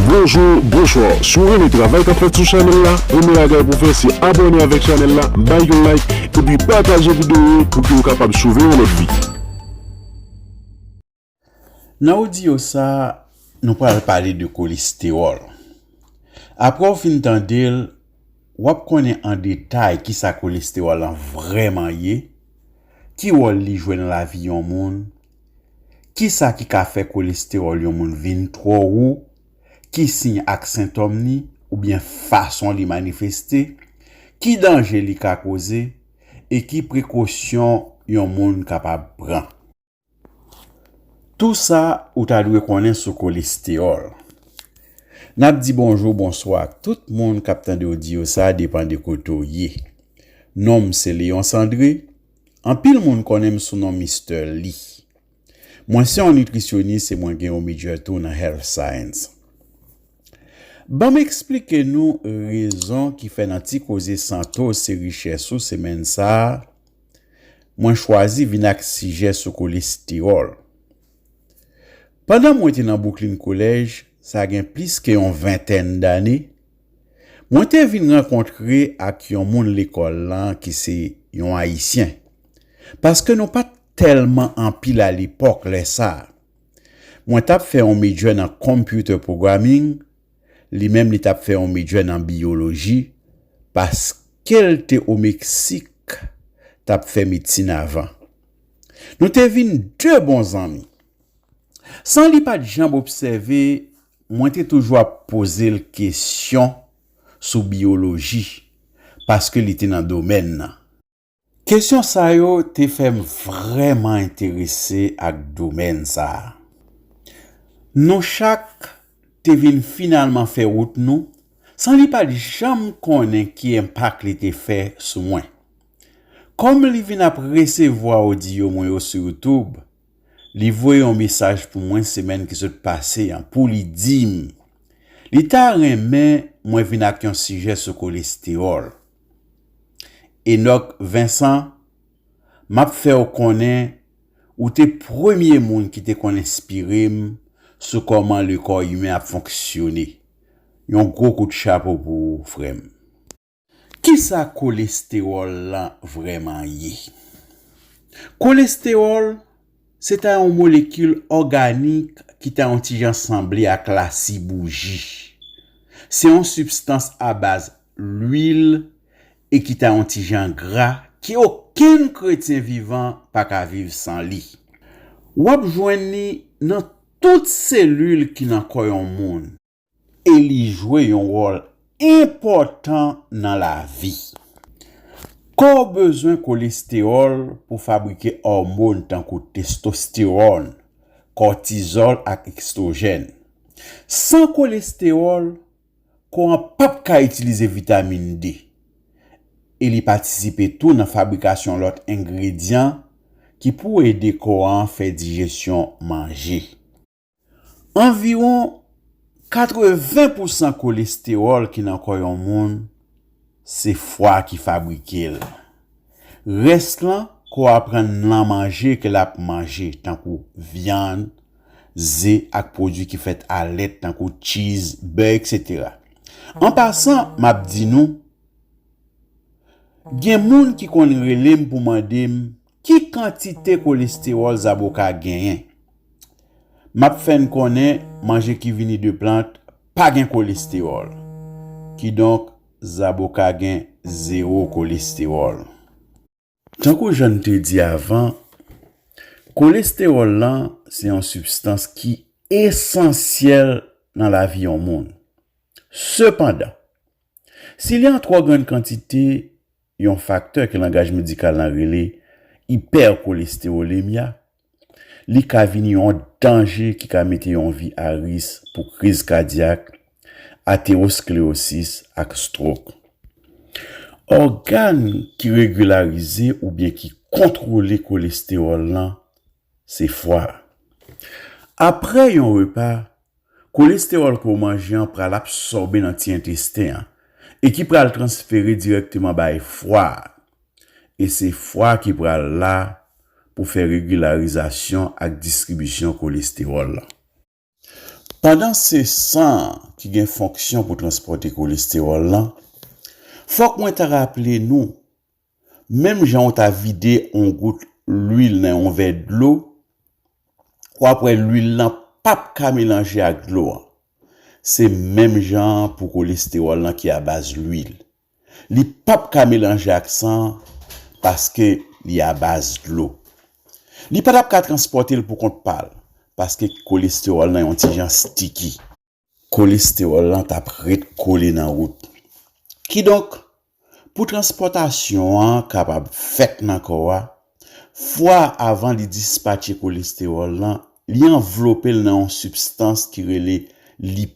Bonjou bonswa si w renmen travay kap fèt sou chanèl la premye bagay pou w fè se abòne avèk chanèl la bay yon like epi pataje videyo yo pou ke w kapab sove yon lòt vi. Nan audio sa nou pral pale de kolestewòl aprè w fin tande l wap konnen an detay kisa kolestewòl lan vrèman ye ki wòl li jwe nan lavi yon moun Kisa ki ka fè kolestewòl yon moun vin twò wo, ki siy ak sentòm li oubyen fason li manifeste, ki danje li ka koze e ki prekosyon yon moun kapab pran. Tou sa ou ta dwe konnen sou kolestewòl. N ap di bonjou bonswa ak tout moun k ap tande odyo sa depan de kote w ye. Non m se Léonce André, Anpil moun konnen m sou non Mister Li. Mwen se yon nitrisyonis e mwen gen yon Midjè tou nan Health Science. Ban m eksplike nou rezon ki fè nan ti koze santo se richès ou semèn sa a, mwen chwazi vin ak sijè sou kolestewòl. Pandan mwen te nan Brooklyn College, sa gen plis ke yon ventèn dane, Mwen te vin rankontre ak yon moun lekòl lan ki se yon Ayisyen, paske nou pa t tèlman anpil alepòk lè sa a. Mwen t ap fè yon medjè nan Computer Programming, li menm li t ap fè yon medjè nan Biyoloji, paske l te o Meksik t ap fè medsin avan. Nou te vin de bon zanmi. San li pa t janm obsève Mwen te toujou ap poze l kesyon sou biyoloji paske li te nan domèn nan. Kesyon sa yo te fè m vrèman enterese ak domèn sa a. Nou chak te vin finalman fè wout nou san li pa t janm konnen ki enpak li te fè sou mwen. Kòm li vin ap resevwa odiyo mwen yo sou YouTube, li voye yon mesaj pou mwen semèn ki sot pase an pou li di m li ta renmen mwen vin ak yon sijè sou kolestewòl. Enock Vincent, m ap fè w konnen ou te premye moun ki te konn enspire m sou kòman le kò imen ap fonksyone. Yon gwo kout chapo pou ou, frè m. Kisa kolestewòl lan vrèman ye? Kolestewòl se ta yon molekil òganik ki ta yon ti jan sanble ak lasi bouji. Se yon sibstans abaz lwil e ki ta yon ti jan gra ke okenn kretyen vivan pa ka viv san li. W ap jwenn li nan tout selil ki nan kò yon moun. e li jwe yon wòl enpòtan nan lavi. Kò w bezwen kolestewòl pou fabrike òmon tankou testostewòn, kòtizòl ak estwojèn. San kolestewòl, kò an p ap ka itilize vitamin D, e li patisipe tou nan fabrikasyon lòt engredyan ki pou ede kò an fè dijesyon manje. Anviwon 80 pousan kolestewòl ki nan kò yon moun se fwa ki fabrike l. Rès lan kò a pran nan manje ke l ap manje tankou vyann, ze ak pwodwi ki fèt a lèt tankou tchiz, bè etc. An pasan m ap di nou, gen moun ki konn rele m pou mande m Ki kantite kolestewòl zaboka genyen? M ap fè n konnen manje ki vini de plant pa gen kolestewòl. Kidonk, zaboka gen zewo kolestewòl. Tankou jan n te di avan, kolestewòl lan se yon sibstans ki esansyèl nan lavi yon moun. Sepandan, si li an twò grann kantite, yon faktè ke langaj medikal lan rele ipèkolestewolemya, li ka vini yon danje ki ka mete yon vi a ris pou kriz kadyak, atewosklewosis ak stwok. Ògàn ki regilarize oubyen ki kontwole kolestewòl lan Se fwa. Apre yon repa, kolestewòl ke w manje an pral absòbe nan ti entesten an e ki pral transfere dirèkteman bay fwa a. E se fwa a ki pral la pou fè regilarizasyon ak distribisyon kolestewòl lan. Pandan se san an ki gen fonksyon pou transpòte kolestewòl lan, fòk mwen ta raple nou, menm jan ou ta vide yon gout lwil nan yon vè dlo, w ap wè lwil lan p ap ka melanje ak dlo an. Se menm jan an pou kolestewòl lan ki abaz lwil. Li pap ka melanje ak san an paske li abaz dlo. Li pa tap ka transpòte l pou kont pa l paske kolestewòl nan yon ti jan stiki. Kolestewòl lan tap ret kole nan wout. Kidonk, pou transpòtasyon an kapab fèt nan kò a, fwa a avan li dispatche kolestewòl lan, li anvlope l nan yon sibstans ki rele lipid.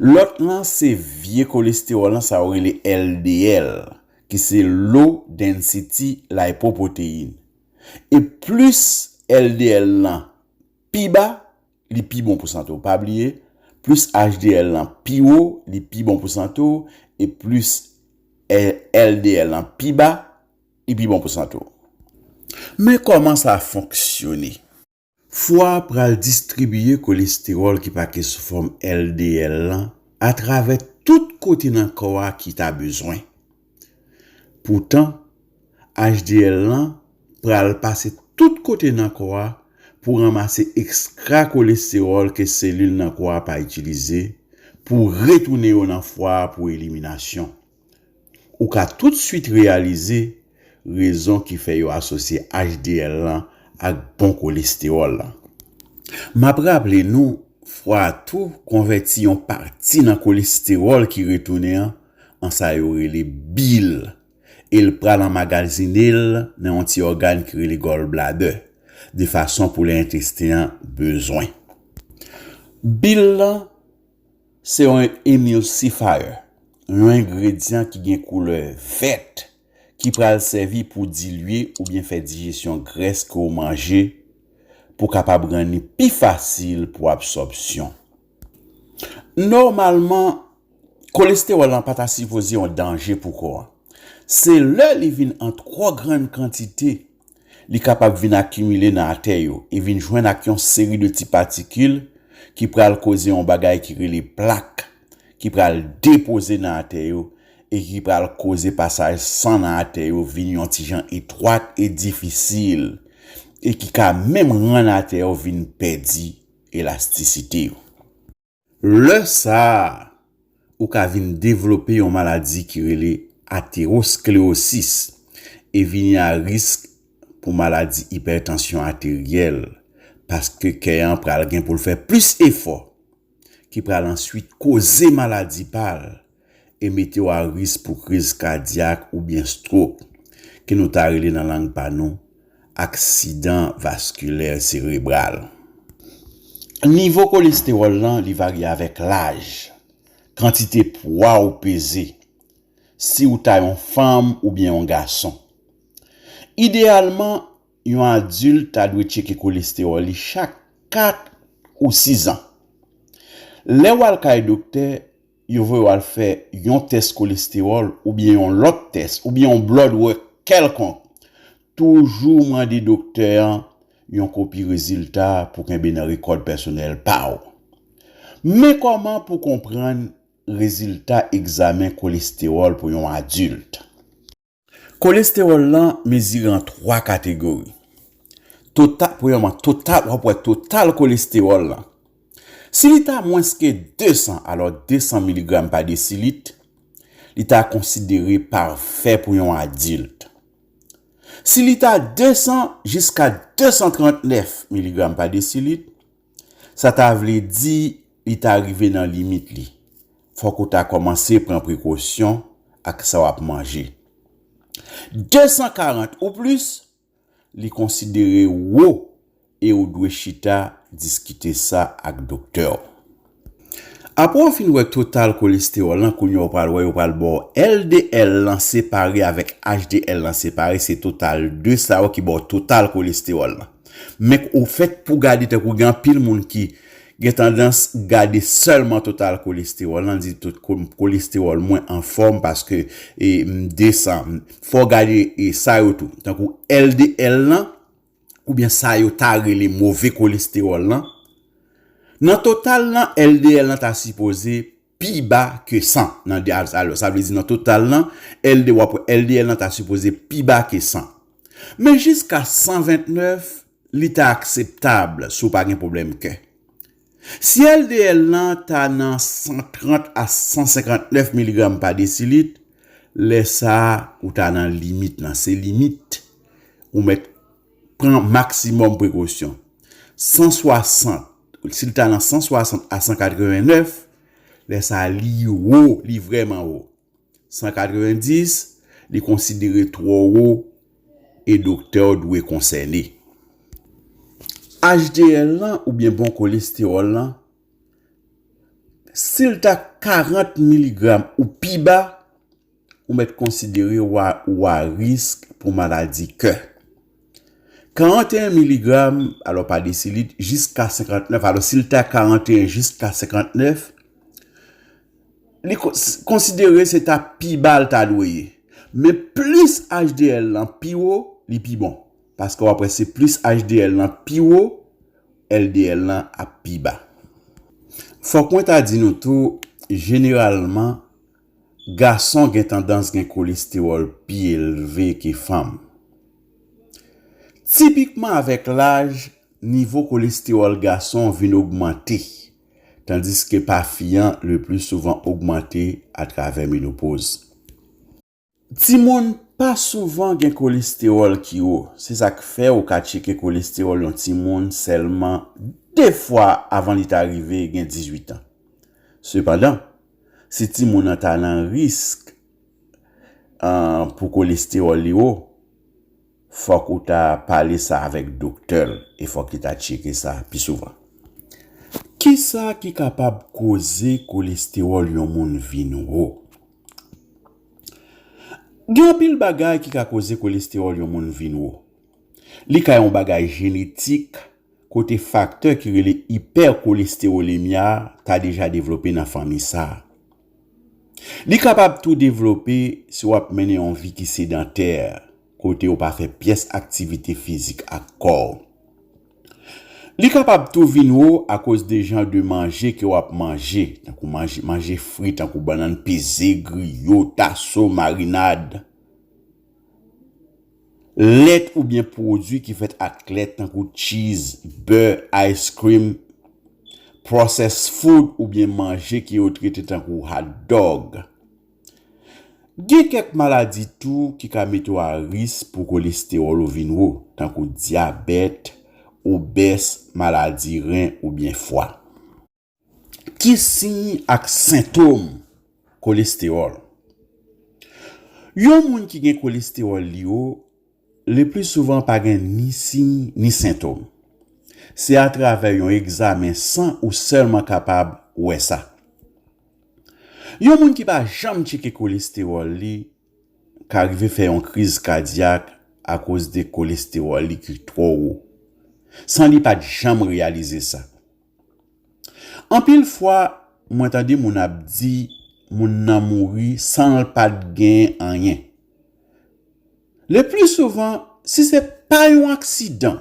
Lòt lan se vye kolestewòl lan sa yo rele LDL ki se Low Density Lipoprotein. E plis LDL lan pi ba, li pi bon pou sante w. Pa bliye, plis HDL lan pi wo, li pi bon pou sante w, e plis LDL lan pi ba, li pi bon pou sante w. Men kòman sa fonksyone. Fwa a pral distribiye kolestewòl ki pake sou fòm LDL lan atravè tout kote nan kò a ki ta bezwen. Poutan, HDL lan pral pase tout kote nan kò a pou ranmase ekskra kolestewòl ke selil nan kò a pa itilize pou retounen yo nan fwa a pou eliminasyon. Ou ka toutsuit reyalize rezon ki fè yo asosye HDL lan ak bon kolestewòl lan. M ap raple nou fwa a tou konvèti yon pati nan kolestewòl ki retounen an an sa yo rele bil e l pral anmagazine l nan yon ti ògàn ki rele gallbladder de fason pou lè entesten an bezwen bil lan Se yon emulsifier, yon engredyan ki gen koulè vèt ki pral sèvi pou dilye oubyen fè dijesyon grès ke w manje pou kapab rann li pi fasil pou absòbsyon. Nòmalman, kolestewòl lan pa ta sipoze yon danje pou kò an. Se lè li vin an twò grann kantite li kapab vin akimile nan atè yo e vin jwenn ak yon seri de ti patikil ki pral koze yon bagay ki rele plak ki pral depoze nan atè yo e ki pral koze pasaj san nan atè yo vin yon ti jan etwat e difisil e ki ka menm rann atè yo vin pèdi elastisite yo. Lè sa a, ou ka vin devlope yon maladi ki rele aterosklerosis e vini a risk pou maladi ipètansyon ateryèl paske kè an pral gen pou l fè plis efò ki pral answit koze maladi pa l e mete w a risk pou kriz kadyak oubyen strok, ke nou ta rele nan lang pa nou, aksidan vaskilè serebral. Nivo kolestewòl lan li varye avèk laj, kantite pwa ou peze, si ou ta yon fanm oubyen yon gason. Ideyalman, yon adilt ta dwe tcheke kolestewòl li chak 4 ou 6 an. Lè w al kay doktè, yo voye w al fè yon tès kolestewòl oubyen yon lòt tès oubyen yon blòd wòk kèlkonk, toujou mande doktè an yon kopi rezilta a pou kenbe nan rekòd pèsonèl pa w. Men kòman pou konprann rezilta egzamen kolestewòl pou yon adilt. Kolestewòl lan mezire an 3 kategori. Total, premyèman, total, wap wè total kolestewòl lan. Si li ta mwens ke 200, alò 200 miligram pa desilit, li ta konsidere pafè pou yon adilt. Si li ta 200 jiska 239 miligram pa desilit, Sa ta vle di li ta rive nan limit li. Fòk ou ta kòmanse pran prekosyon ak sa w ap manje. 240 ou plis, li konsidere wo e ou dwe chita diskite sa ak doktè w. Apre w fin wè total kolestewòl lan, kounye a w pral wè yo pral ba w LDL lan separe avèk HDL lan separe, se total 2 sa yo ki ba w total kolestewòl lan. Men k ou fèt pou gade tankou gen anpil moun ki gen tandans gade sèlman total kolestewòl lan, di tout kolestewòl mwen anfòm paske m 200, fò w gade sa yo tou tankou LDL lan, oubyen sa yo ta rele move kolestewòl lan, nan total lan LDL lan ta sipoze pi ba ke 100 nan dyaz alò sa vle di nan total lan LD wap wè LDL lan ta sipoze pi ba ke 100 men jiska 129 li ta akseptab si w pa gen pwoblèm kè. Si LDL lan ta nan 130 a 159 miligram pa desilit, lè sa ou ta nan limit lan, se limit ou mèt pran maksimòm prekosyon. 160, si l ta nan 160 a 189, lè sa li wo, li vrèman wo. 190, Li konsidere twò wo e doktè w dwe konsène. HDL lan oubyen bon kolestewòl lan, si l ta 40 miligram ou pi ba, ou mèt konsidere w a risk pou maladi kè. 41 miligram, alò pa desilit, jiska 59, alò si li ta 41 jiska 59, li konsidere se ta pi ba li ta dwe ye. Men plis HDL lan pi wo, li pi bon. Paske w ap wè se plis HDL lan pi wo, LDL lan ap pi ba. Fòk mwen ta di nou tou, jeneralman, Gason gen tandans gen kolestewòl pi elve ke fanm. Tipikman avèk laj, nivo kolestewòl gason vin ogmante, tandiske pa fi an le pli souvan ogmante atravè menopoz. Timoun pa souvan gen kolestewòl ki wo, se sa k fè ou ka tcheke kolestewòl yon timoun sèlman de fwa avan li ta rive gen 18 an. Sepandan, si timoun an ta nan risk pou kolestewòl li wo, Fòk ou ta pale sa avèk doktè l e fòk li ta tcheke sa pi souvan. Kisa ki kapab koze kolestewòl yon moun vin wo? Gen anpil bagay ki ka koze kolestewòl yon moun vin wo. Li ka yon bagay jenetik kote faktè ki rele ipèkolestewolemya ta deja devlope nan fanmi sa a. Li kapab tou devlope si w ap mennen yon vi ki sedantè, kote ou pa fè pyès aktivite fizik ak kò w. Li kapab tou vin wo akoz de jan de manje ke w ap manje, tankou manje fri tankou bannann peze, griyo, taso, marinad. Lèt oubyen pwodui ki fèt ak lèt tankou tchiz, bè, ice cream, processed food oubyen manje ke yo trete tankou hot dog. Gen kèk maladi tou ki ka mete w a risk pou kolestewòl ou vin wo, tankou dyabèt, obès, maladi ren oubyen fwa. Ki siy ak sentom kolestewòl? Yon moun ki gen kolestewòl li wo, le pli souvan pa gen ni siy ni sentom. Se atravè yon egzamen san ou sèlman kapab wè sa. Yon moun ki pa janm tcheke kolestewòl li ka rive fè yon kriz kadyak akoz de kolestewòl li ki twò wo, san li pa t janm reyalize sa. Anpil fwa mwen tande moun ap di moun nan mouri sanl pat gen anyen. Le pli souvan si se pa yon aksidan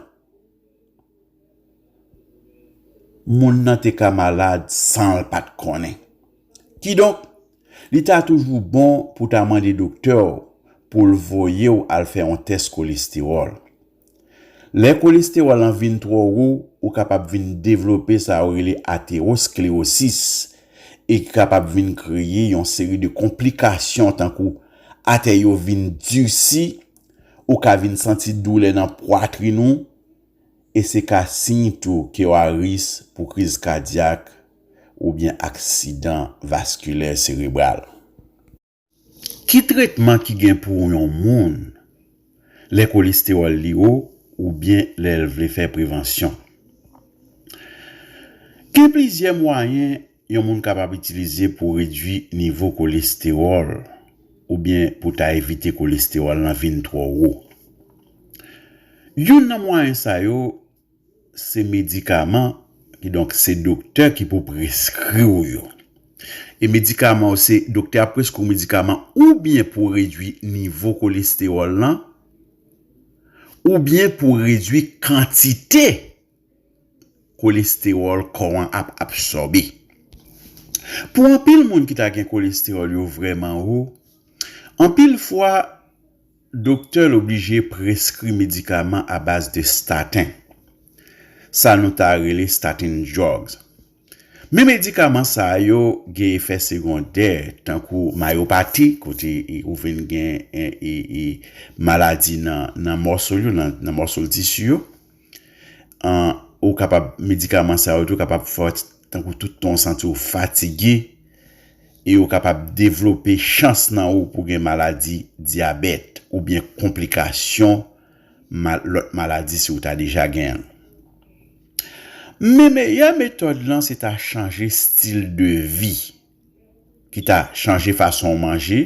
moun nan te ka malad sanl pat konnen. Kidonk li ta toujou bon pou ta mande doktèw poul voyew al fè yon tès kolestewòl. Lè kolestewòl lan vin twò wo, ou kapab vin devlope sa yo rele aterosklerosis e ki kapab vin kreye yon seri de konplikasyon tankou atè yo vin disi, ou ka vin santi doulè nan pwatrin ou e se ka siy tou ke w a ris pou kriz kadyak oubyen aksidan vaskilè serebral. Ki tretman ki gen pou yon moun lè kolestewòl li wo oubyen lè l vle fè prevansyon? Gen plizyè mwayen yon moun kapab itilize pou redui nivo kolestewòl oubyen pou ta evite kolestewòl lan vin twò wo. Youn nan mwayen sa yo Se medikaman, kidonk se doktè ki pou preskri w yo. E medikaman yo se doktè ap preskri w medikaman oubyen pou redui nivo kolestewòl lan, oubyen pou redui kantite kolestewòl kò an ap absòbe. Pou anpil moun ki ta gen kolestewòl yo vrèman wo, anpil fwa Doktè l oblije preskri medikaman a baz de statin, sa nou ta rele statin drugs. Men medikaman sa yo gen efè segondè tankou mayopati kote ou vin gen maladi nan mòso l yo, nan mòso l tisi yo. Medikaman sa yo tou kapab Tankou tout tan w santi w fatige e yo kapab devlope chans nan ou pou gen maladi dyabèt oubyen konplikasyon lòt maladi si w ta deja gen l. Men meyè metòd lan se ta chanje stil de vi, ki ta chanje fason w manje,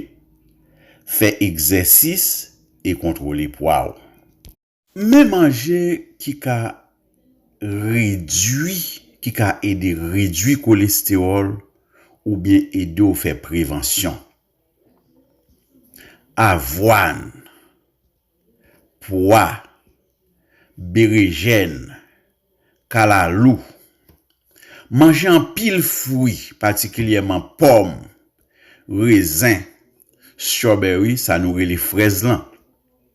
fè egzèsis e kontwole pwa w. Men manje ki ka redui ki ka ede redui kolestewòl oubyen ede w fè prevansyon. Avwàn, pwa, berejèn, kalalou. Manje anpil fwi, patikilyèman pòm, rezen, strawberry, sa nou rele frèz lan.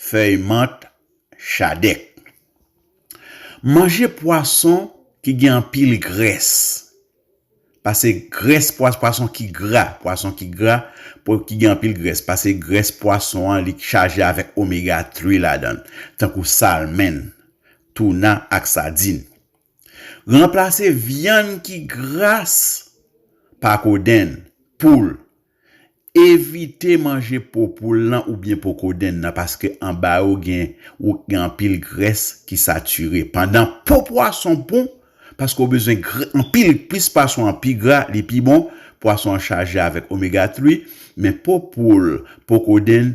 fèy mant, chadèk. Manje pwason ki gen anpil grès. Pase grès pwason ki gra, pwason ki gra, ki gen anpil grès. Pase grès pwason an li chaje avèk omega 3 ladan l, tankou salmen, touna ak sadin. Ranplase vyann ki gras pa kodenn, poul. Evite manje po poul lan oubyen po kodenn nan paske anba yo gen anpil grès ki satire. Pandan po pwason bon paske ou bezwen anpil, plis pwason an pi gra, li pi bon, pwason an chaje avèk omega 3, men po poul, po kodenn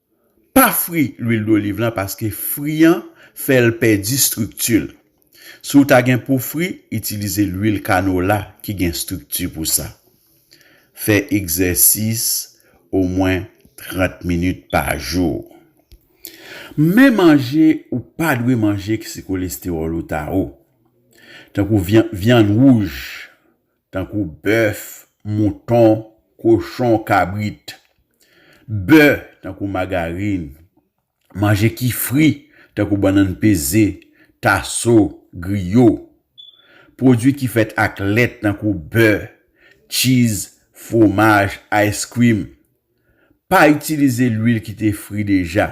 Pa fri lwil doliv lan paske fri an fè l pèdi strikti l. Si w ta gen pou fri, itilize lwil kanola ki gen strikti pou sa. Fè egzèsis omwen 30 minit pa jou. Men manje ou pa dwe manje si kolestewòl ou ta wo, tankou vyann wouj, Tankou bèf, mouton, kochon, kabrit. Bè, tankou magarin. Manje ki fri, tankou bannann peze, taso, griyo. Pwodui ki fèt ak lèt tankou bè, tchiz, fwomaj, ice cream. Pa itilize lwil ki te fri deja.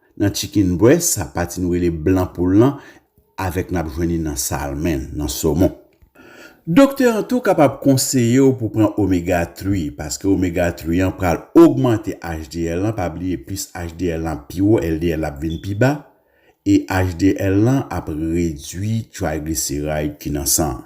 Nan chicken breast sa pati nou rele blan poul lan avek nap jwenn li nan salmen, nan somon. Doktè an tou kapab konseye w pou pran omega three paske omega three an pral ogmante HDL lan pa bliye plis HDL lan ap pi wo LDL la ap vin pi ba e HDL lan ap redwi triglyceride ki nan san an.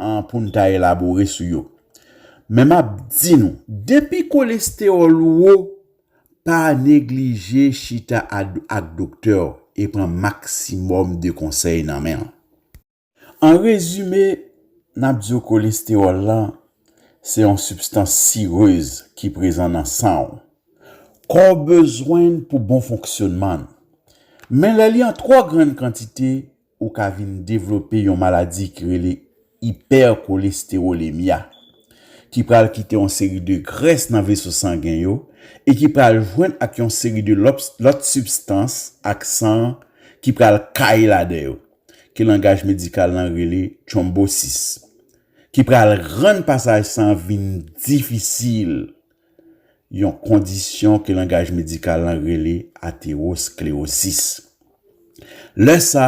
an pou n ta elabore sou yo. Men m ap di nou, depi kolestewòl ou wo, pa neglije chita ak doktè w e pran maksimòm de konsèy nan men l. An rezime, n ap di w kolestewòl lan se yon sibstans sirez ki prezan nan san w. Kò w bezwen l pou bon fonksyonman l. Men lè li an twò grann kantite, ou ka vin devlope yon maladi ki rele ipèkolestewolemya, ki pral kite yon seri de grès nan veso sangen yo e ki pral jwenn ak yon seri de lòt sibstans ak san an ki pral kaye ladan yo, ke langaj medikal lan rele tronbosis, ki pral rann pasaj san an vin difisil. yon kondisyon ke langaj medikal lan rele aterosklerosis. Lè sa,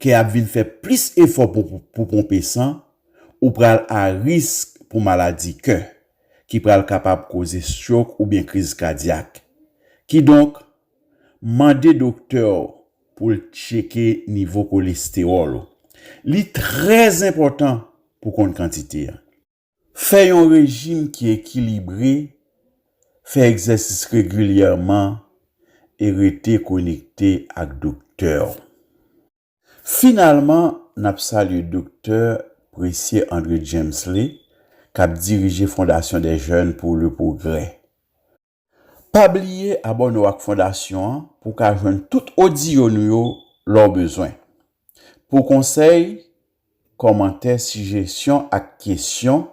kè ap vin fè plis efò pou ponpe san, ou pral a risk pou maladi kè, ki pral kapab koze strok oubyen kriz kadyak. Kidonk, mande doktè w pou l tcheke nivo kolestewòl ou. Li trè enpòtan pou konn kantite an. Fè yon rejim ki ekilibre, fè egzèsis regilyèman e rete konekte ak doktè w. Finalman, n ap salye Doktè Precieux André Djemsley k ap dirije Fondation des Jeunes pour le Progrès. Pa bliye abòne w ak fondasyon an pou w ka jwenn tout odiyo nou yo lè w bezwen. Pou konsèy, kòmantè, sijesyon ak kesyon,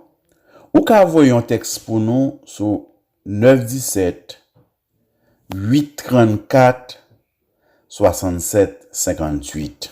ou ka voye yon tèks pou nou sou 917 834 67 58.